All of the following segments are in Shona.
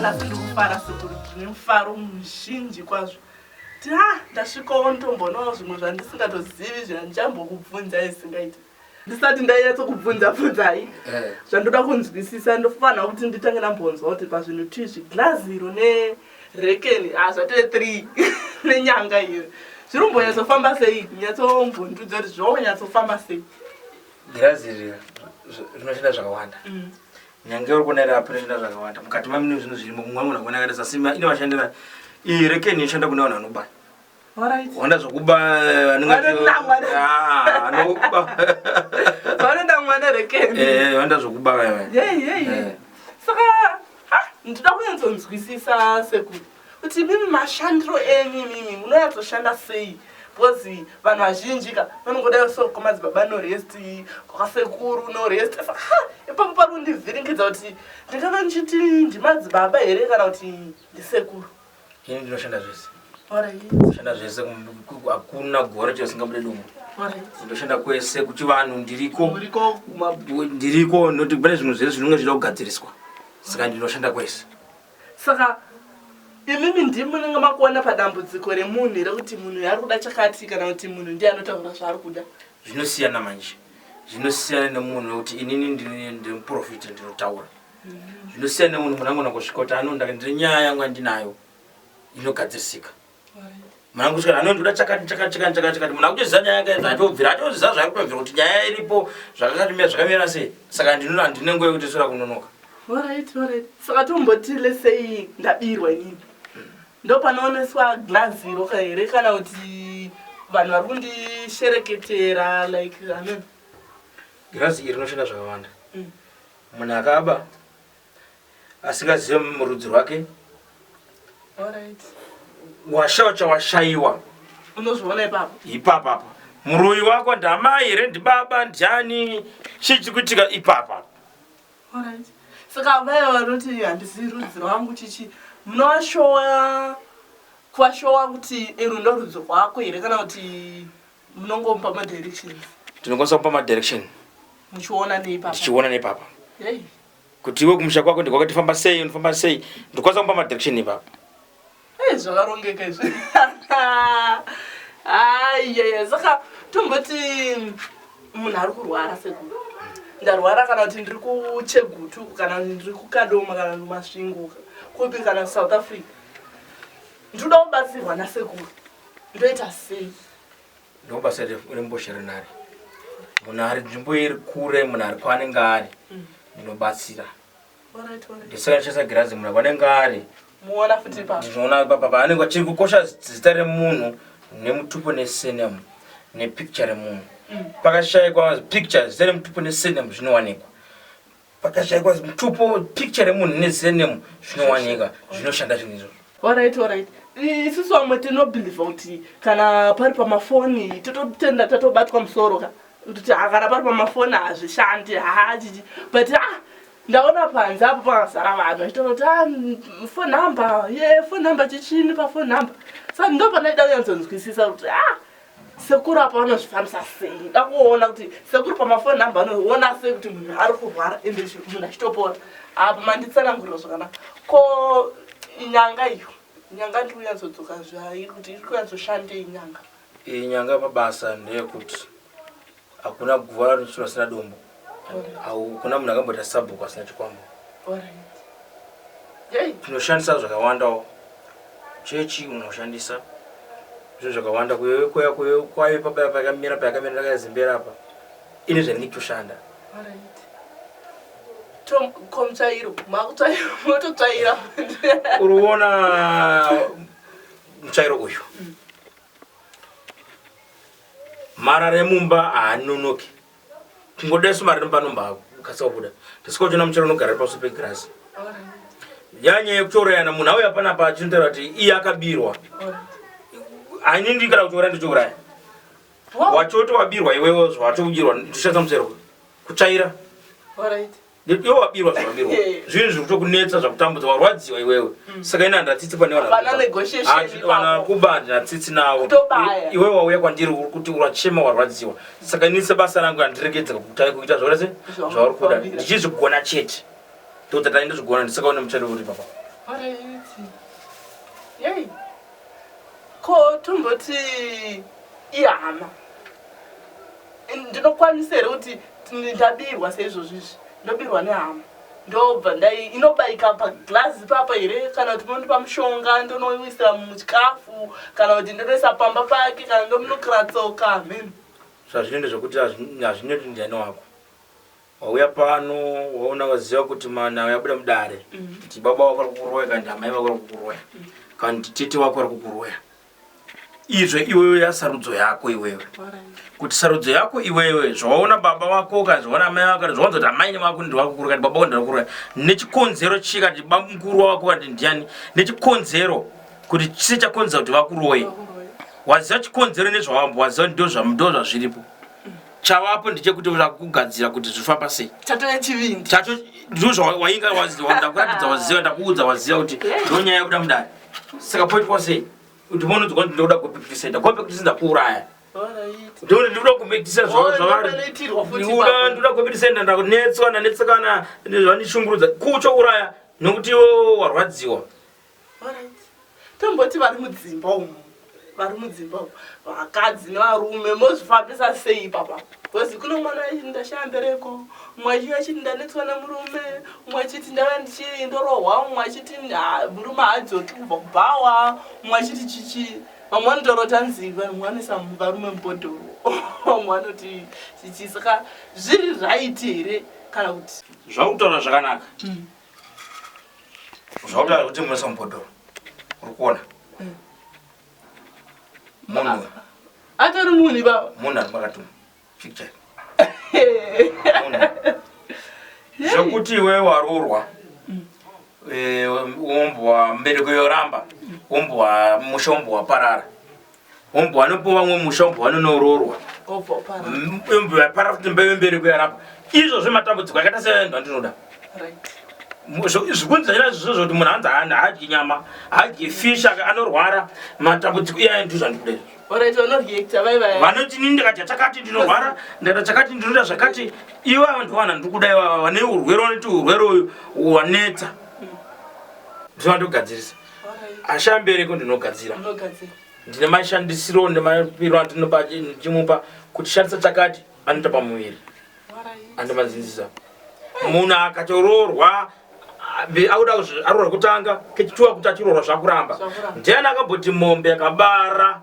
nhasi ndiri kufara sekuru zvine mufaro muzhinji kwazvo ti ha ndasvikawo ndombonawo zvimwe zvandisingatozivi zvandichambokubvunza isingaiti ndisati ndaiyatsokubvunza bvunzai eh. zvandoda kunzwisisa ndofanira kuti nditange ndambonzwa kuti pazvinhu tizvi glazi iro rekeni ah zvatove three nenyanga iyo zviri kumbonyatsofamba sei nyatsombondudza kuti zvonyatsofamba sei girazi iri rinoshanda zvakawanda mm. nyange uri kuona iri apo rinoshanda zvakawanda mukati mamine zvinhu zvirimo mumwe munhu akuona akaita sasima ine vashandira iyi rekeni inoshanda kune vanhu vanobaya Wanda zvokuba vanoda mwana rekewanda zvokuba saka ndinoda kunyatsonzwisisa seku kuti mimi mashandiro enyu mimi munonyatsoshanda sei bcause vanhu vazhinji ka vanongodayo so komadzibaba norest kwakasekuru norest ipapo pari kundivhiringidza kuti ndingava ndichiti ndimadzibaba here kana kuti ndisekuru ini ndinoshanda zvese shanda zvese hakuna gore chasingabude dumbu ndoshanda kwese kuchivanhu ndiriko ndiriko noti pane zvinhu zvese zvinenge zvichida kugadziriswa saka ndinoshanda kwese saka imimi ndimi munenge makuona padambudziko remunhu here kuti munhu yaari kuda chakati kana kuti munhu ndiye anotaura zvaari kuda zvinosiyana manje zvinosiyana nemunhu nekuti inini ndiri muprofita ndinotaura zvinosiyana nemunhu munangona kusvika kuti anonda ndiri nyaya yangu andinayo inogadzirisika mwanangu kusvika anonda uda chakati chakati chakati chakati chakati munhu akutoziva nyaya yake yadza atobvira atoziva zvaakutobvira kuti nyaya iripo zvakakatimira zvakamira sei saka ndinoda handine nguva yekuti sura kunonoka saka tomboti lesei ndabirwa inini ndopanooneswa glazi roka here kana kuti vanhu vari kundishereketera like amen glazi iri rinoshanda zvakawanda mm. Munhu akaba asingazive murudzi rwake washawa chawashaiwa unozviona ipapo ipapa apa muroyi wako ndamai here ndibaba ndiani chii chiri kuitika ipapa saka vaya vanoti handizivi rudzi rwangu chichi munovashowa kuvashowa kuti ero ndorudzi rwako here kana kuti munongomupa madirection ndinokwanisa kupa madirection muchiona neipapa ndichiona neipapa hey. kuti iwe kumusha kwako ndikwakati famba sei unofamba sei ndikwanisa kupa madirection ipapa hey, zvakarongeka izvi aiyeya saka tomboti munhu ari kurwara sekuru ndarwara kana kuti ndiri kuchegutu kana ndiri kukadoma kana ndimasvingo kupi kana south africa ndinoda kubatsirwa nasekuru ndoita sei ndobasa rembozha renhare munhu ari nzvimbo iri kure munhu ari kwaanenge ari mm. ndinobatsira ndisakashandisa girazi munhu vanenge ari ndinoona papa paanenge achiri kukosha zita remunhu nemutupo nesenemu nepicture remunhu mm. pakashaikwa picture zita remutupo nesenemu zvinowanikwa pakashaikwa mutupo picture remunhu nezenemu zvinowanika zvinoshanda zvinhu izvozvo orit orit isusu vamwe tinobhilivha kuti kana pari pamafoni tototenda tatobatwa musoro ka kuti hakana pari pamafoni hazvishandi haachichi but a ah, ndaona panze apo pakazara vanhu achitoroti ah, fon number ye fon number chichini pafon number sa ndo panaida kuyanzonzwisisa kuti a ah, sekuru apa vanozvifambisa sei dakuona kuti sekuru pamafoni namba anoona sei kuti munhu ari kurwara ende munhu achitopora apa manditsanangurira zvakanaka ko nyanga iyo nyanga ndiri kunyatsodzokka zvairi kuti iri kunyatsoshande inyanga iyi nyanga pabasa ndeyekuti Hakuna guva rinochirwa sina dombo. Hakuna munhu akamboita sabhuku asina chikwambo. Tinoshandisa zvakawandawo. Chechi unoshandisa zvinhu zvakawanda kuyekoya kwayo pabaya pakamira payakamira ndakazimbera apa ine zvandinge kutoshanda komutsvairo makutsvairo mototsvaira urikuona mutsvairo uyu mm. Marara emumba haanonoki kungoda isu marara emumba anombakasika kubuda ndisiko chona muchero unogara paso pegirasi yanyaya yekutourayana munhu auya panapa achinotaura kuti iye akabirwa ainindikana kutouraya ndichiuraya wachoti wabirwa iwewe watoudirwa ndichatsa musero kutsvaira Iwe wabirwa zvawabirwa. Zvinhu zviri kutokunetsa zvakutambudza warwadziwa iwewe. Hmm. Saka ina ndatsitsi pane wana. Pana negotiation. Ati wana kuba ndatsitsi nawo. Iwe wauya kwandiri uri kuti urachema warwadziwa. Saka ini sebasa rangu andiregedza kutai kuita zvore se zvauri kuda. Ndichizvigona chete. Totsa tani ndozvigona ndisaka une muchado uri papa. Yei. Ko tomboti ihama. ndinokwanisa here kuti ndabirwa seizvozvi izvi ndobirwa nehama ndobva ndai inobaika paglazi papa here kana kuti munondipa mushonga ndonoisira muchikafu kana kuti ndonoisa pamba pake kana ndomunokira tsoka amen zvazvinoenda zvekuti hazvinoti ndiani wako wauya pano waona waziva kuti mana uyabuda mudare mhm. kuti baba wako ari kukuroya kana kuti amai vako ari kukuroya mhm. kana kuti tete wako ari kukuroya izve iwewe yasarudzo yako iwewe kuti sarudzo yako iwewe zvawaona baba wako kana zvaona amai wako kana zvawanza kuti amaini wako ndi wako kurukani baba wandira kurukani nechikonzero chii kati baba mukuru wako kati ndiani nechikonzero kuti chise chakonzera kuti vakuroye waziva chikonzero nezvawambo waziva ndo zvazviripo chavapo ndichekuti vakugadzira kuti zvifamba sei chatove chivindi chato ndozvawainga waziva ndakuratidza waziva ndakuudza waziva kuti ndonyaya yakuda mudari Saka point was it? Kuti mono dzikwa ndinoda ku practice center. Kwa practice center kuuraya. Ndinoda ndinoda ku practice zvawo zvavari. Ndinoda ndinoda ku practice center ndakunetswa na netsekana zvani shungurudza. Kucho uraya nokuti wo warwadziwa. All right. Tomboti vari mudzimba umu. vari mudzimba umu vakadzi nevarume mozvifambisa sei ipapa bcoz kuno mwana achiti ndashaya mbereko umwe achiyo achiti ndanetswa nemurume umwe achiti ndava ndichii ndorohwa umwe achiti murume haadzoki kubva kubhawa umwe achiti chichii vamwe vanotorota nzi vanhu vanisa varume mubhodhoro vamwe vanoti chichii saka zviri raiti here kana kuti zvakutaura zvakanaka hmm. zvautaura kuti munesa mubhodhoro uri kuona mm. munhu atori munhu baba munhu ari makatuma fikchai zvekuti iwe warurwa umbu wa mbereko yoramba umbu wa musha umbu waparara Ombo wanopo vamwe musha ombo wanonoroorwa. Ombo vapara kuti mbeve mberi kuyarapa. Izvo zvematambudziko akaita sevanhu vandinoda. Zvikunzi zvanyira zvizvo zvoti munhu anzi haadyi nyama, haadyi fish anorwara matambudziko iyaye ndizvo andikuda izvo. vanoti nini ndikadya chakati ndinorwara ndaita chakati ndinoda zvakati ivo ava ndovana ndikuda ivava vane urwere vanoti urwere uyu wanetsa ndizvo vandogadzirisa asi ambereko ndinogadzira ndine mashandisiro nemapiro andinopa ndichimupa kuti shandisa chakati anoita pamuviri andimazinzisa munhu akatoroorwa auda aroora kutanga kechituwa kuti achiroora zvakuramba ndiani akamboti mombe akabara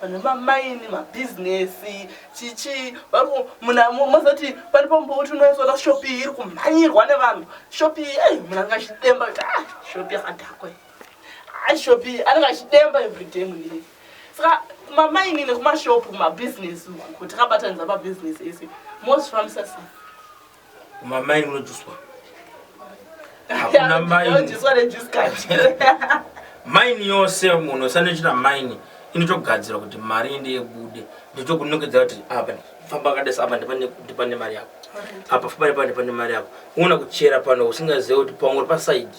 vane mamaini mabhizinesi chichii variku muna mozoti pane pambouti unoisona shopi iyi iri kumhanyirwa nevanhu shopi iyi ei muna anenge achidemba kuti ah shopi yakadhakwa iyi ah shopi iyi anenge achidemba everyday munii saka kumamaini nekumashopu kumabhizinesi uku kuti akabatanidza mabhizinesi ese mozvifambisa sei Uma mai unojuswa. Hakuna mai. Unojuswa ne juice card. Mine yose munhu usanochita mine inotogadzira kuti mari ende yebude ndotokunongedza kuti apa famba kadesa apa ndipane mari yako apa famba nepane pane mari yako uona kuchera pano usingazive kuti pamwe uri pasaidi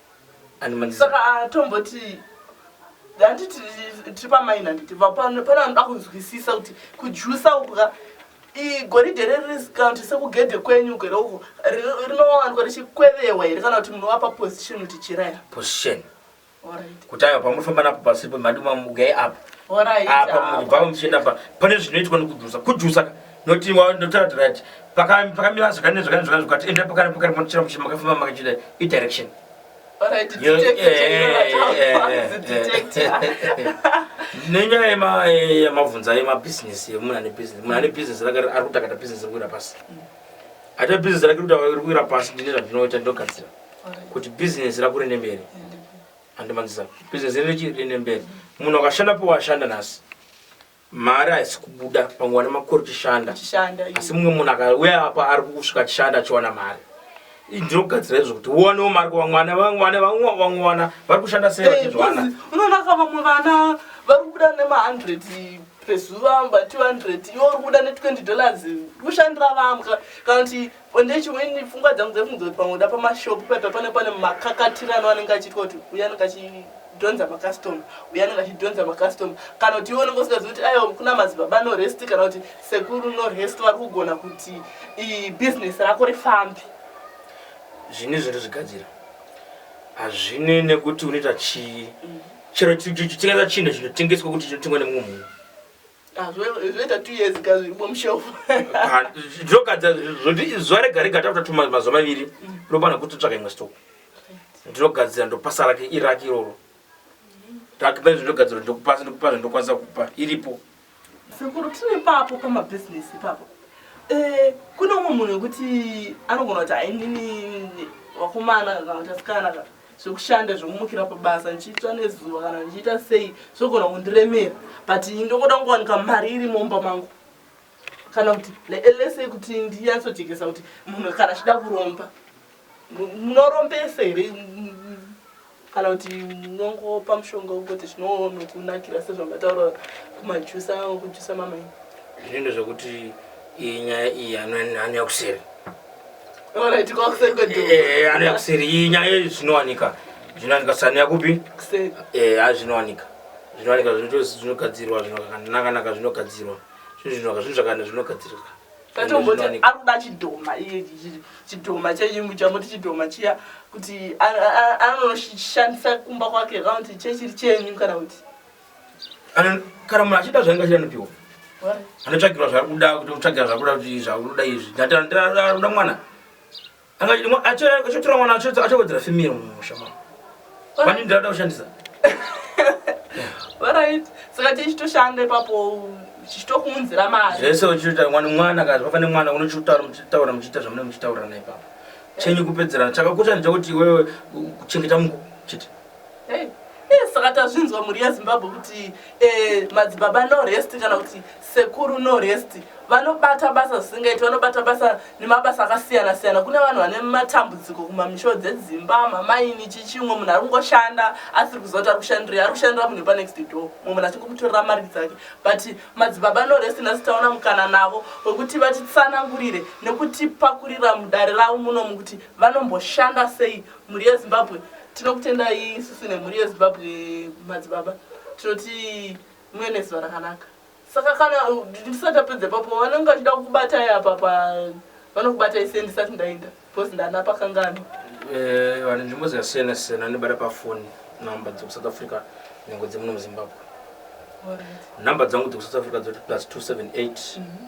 saka atomboti hanti tiri pamaini handiti pane vanoda kunzwisisa kuti kujusa uku ka goridhe riri risikaunti sekugedhe kwenyu gere uko rinowanikwa richikwevehwa here kana kuti munovapa position kuti chiraya position kuti ayo pamufamba napo pasi pemadumamugei apa apa mubvava muchienda pa pane zvinoitwa nekujusa kujusa ka noti ndotaura right pakamira zvakane zvakane zvakane zvakati enda pakane pakane panochira muchira makafamba makachida idirection nenyaya yemabvunza yemabhizinesi yemunhu ane bhizinesi munhu ane bhizinesi rake ari kutakata bhizinesi rekuwira pasi ata bhizinesi rake rikuwira pasi ndine zvandinoita ndinogadzira kuti bhizinesi rakure nemberi andimanzisa bhizinesi rine mberi munhu akashanda powashanda nhasi Mari haisi kubuda pamwe wane makore uchishanda asi mumwe munhu akauya apa ari kusvika achishanda achiwana mari ndinogadzira izvo kuti uwanewo mari kuvamwana vamwe wana vari kushanda sei eh, vachizvana unonaka vamwe vana vari kubuda nemahundred pezuva mba 200 iwe uri kubuda ne20 dollars kushandira vamwe kana kuti Onde chimweni pfungwa dzangu dziri kunzoti pamwe uda pamashopu paipa pane pane makakatirano anenge achiitwa kuti uya anenge achidhonza makastoma uya anenge achidhonza makastoma kana kuti iwe unenge usingazivi kuti aiwa kuna madzibaba norest kana kuti sekuru norest vari kugona kuti ibhizinesi rako rifambe zvine zvinhu zvigadzira hazvine nekuti unoita chii mm. chero chikaita chinhu chinotengeswa kuti chinotengwa nemumwe munhu Ah, zvoita two years ka zviri bomushelf ah, zvogadza zvoti zuva rega rega takuta tuma mazuva maviri ndopana kuti tsvaka imwe stock ndinogadzira ndopasa rake irake iroro ndakipa izvo ndogadzira ndokupasa ndokupa zvo ndokwanisa kupa iripo sekuru tine papo pamabhizinesi ipapo eh, kune umwe munhu wekuti anogona kuti hainini vakomana kana kuti asikana ka zvekushanda zvekumukira pabasa ndichiitsva nezuva kana ndichiita sei zvogona kundiremera but ndokoda kungowanika mari iri mumba mangu kana kuti lese kuti ndinyatsojekesa kuti munhu kana achida kuromba munorombese here kana kuti munongopa mushonga wekuti zvinonokunakira sezvamataura kumajusa kujusa mamaini zvinendo zvekuti iyi nyaya iyi hanyanya kuseri anoya kuseri iyi nyaya iyi zvinowanika zvinowanika sani yakupi a zvinowanika zvinowanika zvinogadzirwa zvinonakanaka zvinogadzirwa zvinhu zvinoka zvinhu zvakana zvinogadzirwa tatomboti ari kuda chidhoma chidhoma cheimbu chamoti chidhoma chiya kuti anoshandisa kumba kwake kana kuti chechiri chenyu kana kuti kana munhu achida zvainge achida anopiwa anotsvagirwa zvaarikuda kuti utsvagira zvakuda kuti zvakuda izvi ndatiaruda mwana achotora mwana achowedzera femir mumusha ma vani ndirakuda kushandisa orit saka tichitoshanda ipapo chichitokuunzira mari zvese uchiita mwana mwana kazi vafane mwana unochitaura muchitaura muchiita zvamunenge muchitaurirana ipapo chenyu kupedzerana chakakosha ndechekuti iwewe kuchengeta muko chete Hey. Eh, saka tazvinzwa mhuri yezimbabwe kuti eh, madzibaba no rest kana kuti sekuru no rest vanobata basa zvisingaiti vanobata basa nemabasa akasiyana siyana kune vanhu vane matambudziko kumamisho dzedzimba mamaini chichimwe munhu ari kungoshanda asiri kuziva kuti ari kushandirei ari kushandira munhu panext door mumwe munhu achingomutorera mari dzake but madzibaba no rest nhasi taona mukana navo wekuti vatitsanangurire nekutipakurira mudare ravo munomu kuti vanomboshanda sei mhuri yezimbabwe tinokutendai isusu nemhuri yezimbabwe madzibaba tinoti muve nezuva rakanaka saka kana ndisati apedze papo vanenge vachida kukubatai apa pa vanokubatai sei ndisati ndaenda because ndana pakangano eh, vane nzvimbo dzakasiyana siyana vanobata pafoni number dzekusouth africa nyango dzemuno muzimbabwe number dzangu dzekusouth africa dzoti plus 278 mm -hmm.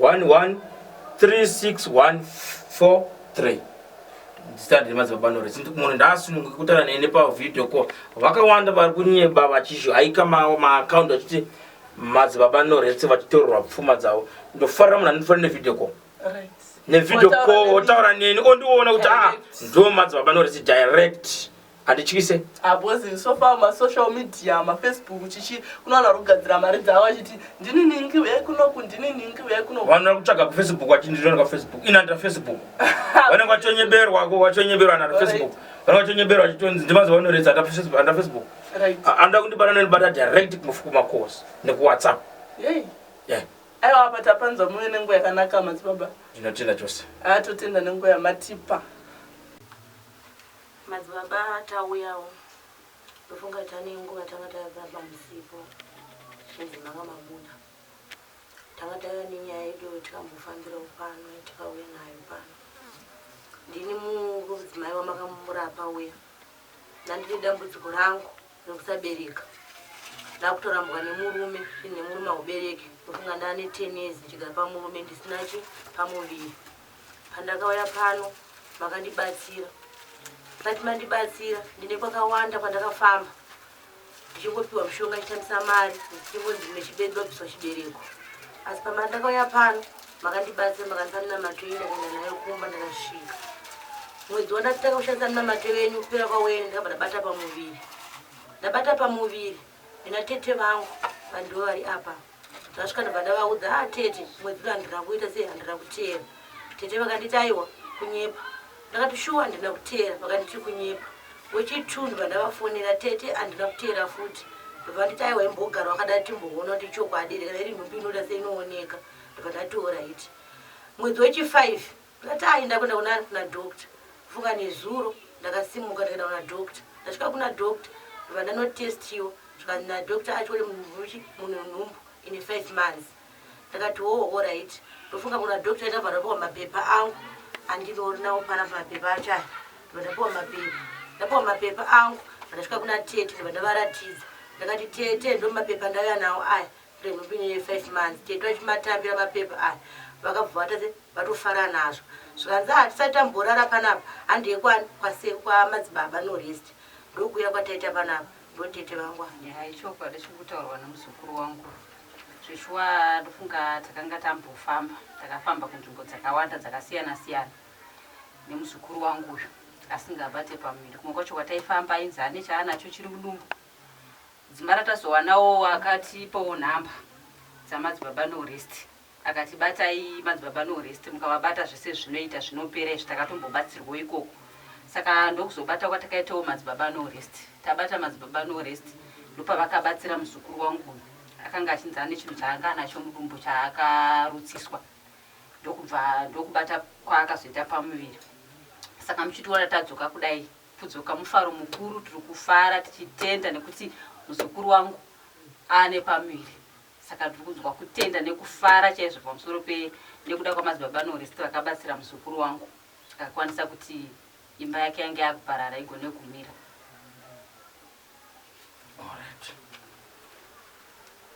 113614 zita rine madzibaba nore since munhu ndaasununguke kutaura nene pavideo call vakawanda vari kunyeba vachizvihaika maakaunti vachiti madzibaba noretse vachitorerwa pfuma dzavo ndofarira munhu anondifarira nevideo call nevideo call otaura neni ondiona kuti a ah, ndo madzibaba noretse direct handityise Ah, boss ini so far masocial media mafacebook chichi kuno vanhu vari kugadzira mari dzavo vachiti ndini ningi uyai kunoku ndini ningi uyai kunoku vanhu vari kutsvaga kufacebook vachindirona kafacebook ini handina facebook vanenge vachonyeberwa ko vachonyeberwa naro facebook vanenge vachonyeberwa vachitonzi ndimazuva anoredza handina Facebook- handina facebook right A- anoda kundibata nonibata direct kumaf- kumacourse nekuwhatsapp yei Yeah, aiwa apa tapanzwa muve nenguva yakanaka madzibaba ndinotenda chose atotenda nenguva yamatipa Madzibaba tauyawo ndofunga tane nguva tanga tava pamusipo zvinzi manga mabuda tanga tava nenyaya yedu tikambofambira pano tikauya nayo pano ndini mudzimai wamakamurapa uya nandine dambudziko rangu rekusabereka ndakutorambwa nemurume zvinhu nemurume haubereki ndofunga ndane ten years ndichigara pamurume ndisina chi pamuviri Pandakauya pano makandibatsira but mandibatsira ndine kwakawanda kwandakafamba ndichingopiwa mushonga ndichishandisa mari ndichingonzi mechibedobiswa chibereko asi pamari ndakauya pano makandibatsira makandisanina matoi ndakaenda nayo kumba ndakasvika mwedzi wandatanga kushandisa nina matoi venyu kupera kwawene ndakabva ndabata pamuviri ndabata pamuviri Nina tete vangu vandivo vari apa zvasvika ndobva ndavaudza a ah, tete mwedzi uno handina kuita sei handina kuteera tete vakanditi aiwa kunyepa ndakati shuwa handina kuteera vakanditi kunyepa wechitu ndobva ndavafonera tete handina kuteera futi ndobva vanditi aiwa imbogara wakadai timboona kuti chokwadi here kana iri nhumbi inoda seinooneka ndobva ndatiora iti mwedzi wechifive Natai ndakuenda kuna ani kuna doctor funga nezuro ndakasimuka ndikaenda kuna doctor ndasvika kuna doctor ndobva ndanotestiwa zvikanzi nadoctor acho kuti muchi mune nhumbu ine five months ndakati hoo horait ndofunga kuna doctor ndabva ndapiwa mapepa angu andinoorinawo pana mapepa acho aya ndobva ndapiwa mapepa ndapiwa mapepa angu ndasvika kuna tete ndobva ndavaratidza ndakati tete ndomapepa ndauya nawo aya remhipinyi ye five months tete vachimatambira mapaper aya vakabva vatadze vatofara nazvo zvikanzi ah tisati tamborara panapa handi yekwani kwase kwamadzibaba no rest ndokuuya kwataita panapa ndotete vangu nyaya ichokwadi chiri kutaurwa nemuzukuru wangu zveshuwa ndofunga takanga tambofamba takafamba kunzvimbo dzakawanda dzakasiyana siyana nemuzukuru wangu uyu asingabate pamuviri kumwe kwacho kwataifamba ainzi ane chaanacho chiri mudumbu Dzimba ratazowanawo akatipawo number dzamadzibaba no rest akati batai madzibaba no rest mukavabata zvese zvinoita zvinopera izvi takatombobatsirwawo ikoko saka ndokuzobata kwatakaitawo madzibaba no rest tabata madzibaba no rest ndopavakabatsira muzukuru wangu uyu akanga achinzi ane chinhu chaanga anacho mudumbu chaakarutsiswa ndokubva ndokubata kwaakazoita pamuviri saka muchitiona tadzoka kudai kudzoka mufaro mukuru tiri kufara tichitenda nekuti muzukuru wangu ane pamuviri saka tiri kunzwa kutenda nekufara chaizvo pamusoro pe nekuda kwamadzibaba norest vakabatsira muzukuru wangu akakwanisa kuti imba yake yange yakuparara igone kumira